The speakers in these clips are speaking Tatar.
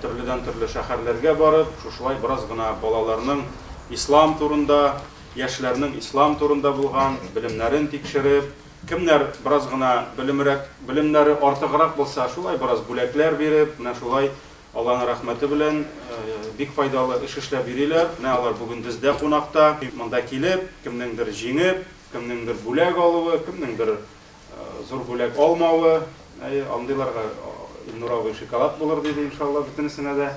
Төрледән-төрле шәһәрләргә барып, шушылай бераз гына балаларның ислам турында, яшьләрнең ислам турында булган белемнәрен тикшереп, кемнәр бераз гына белемрәк, белемнәре артыграк булса, шулай бераз бүләкләр биреп, менә шулай Алланың рәхмәте белән бик файдалы эш эшләп йөриләр. Менә алар бүген бездә кунакта. Монда килеп, кемнеңдер җиңеп, кемнеңдер бүләк алуы, кемнеңдер Зур бүләк алмавы, әйе, андыйларга Илнур абый шоколад булыр диде, иншалла, бөтенесенә дә.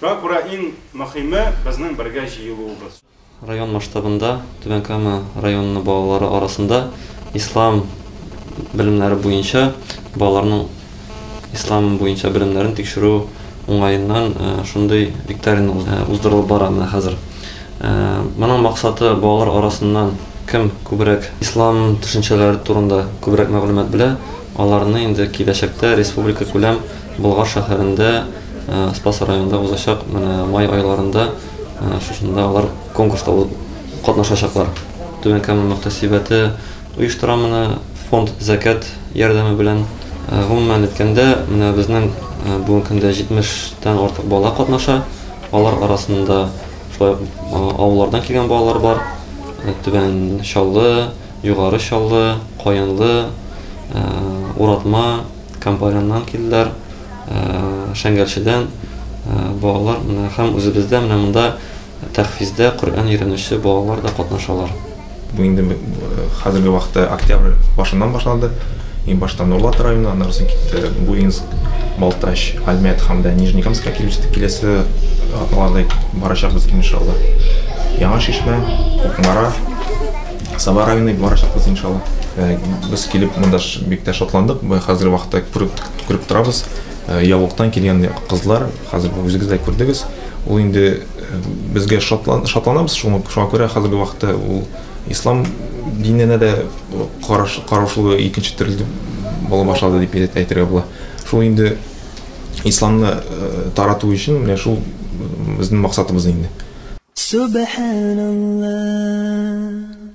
Шуңа күрә иң мөхиме безнең бергә җыелуыбыз. Район масштабында Түбән Кама районы балалары арасында ислам белемнәре буенча балаларның Ислам буенча белемнәрен тикшерү уңаеннан шундый викторина уздырылып бара менә хәзер. Моның максаты балалар арасыннан кем күбрәк ислам төшенчәләре турында күбрәк мәгълүмат белә, аларны инде киләчәктә республикакүләм Болгар шәһәрендә Спас районында узачак менә май айларында шушында алар конкурста катнашачаклар. Түбән Кама мөхтәсибәте оештыра моны фонд зәкят ярдәме белән. Гомумән әйткәндә, менә безнең бүгенге көндә 70 тән артык бала катнаша. Алар арасында шулай ук авыллардан килгән балалар бар. Түбән Чаллы, Югары Чаллы, Каенлы, Уратма, Кампаряннан килделәр, Шәңгәлчедән балалар менә һәм үзебездә менә монда Тәхфиздә Коръән өйрәнүче балалар да катнашалар. Бу инде хәзерге вакытта октябрь башыннан башланды. Иң башта Нурлат районы, аннары соң китте Буинск, Балтач, Альмет һәм дә Нижнекамскка килеп җиттек. Киләсе атналарда барачакбыз иншалла. Яңа Шишмә, Кукмара, Саба районы барачакбыз иншалла. Без килеп монда бик тә шатландык. Хәзерге вакытта күреп торабыз, Яулыктан килгән кызлар, Хәзер бу үзегез дә күрдегез, ул инде безгә шатлан, шатланабыз, шуңа, шуңа күрә хәзерге вакытта ул ислам диненә дә караш, караушылыгы икенче төрле була башлады дип әйтергә була. Шул инде исламны тарату өчен менә шул безнең максатыбыз инде. Субханалла.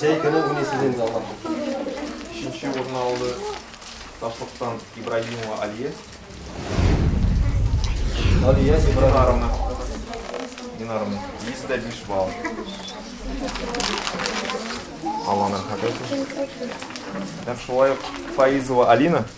Җәй көне уйныйсыз инде алга. Өченче урынны алды Ташлыктан Ибраһимова Алия. Алия Ибраһимовна. Динарымна. 105 балл. Алланың хәбәте. Һәм шулай ук Фаизова Алина.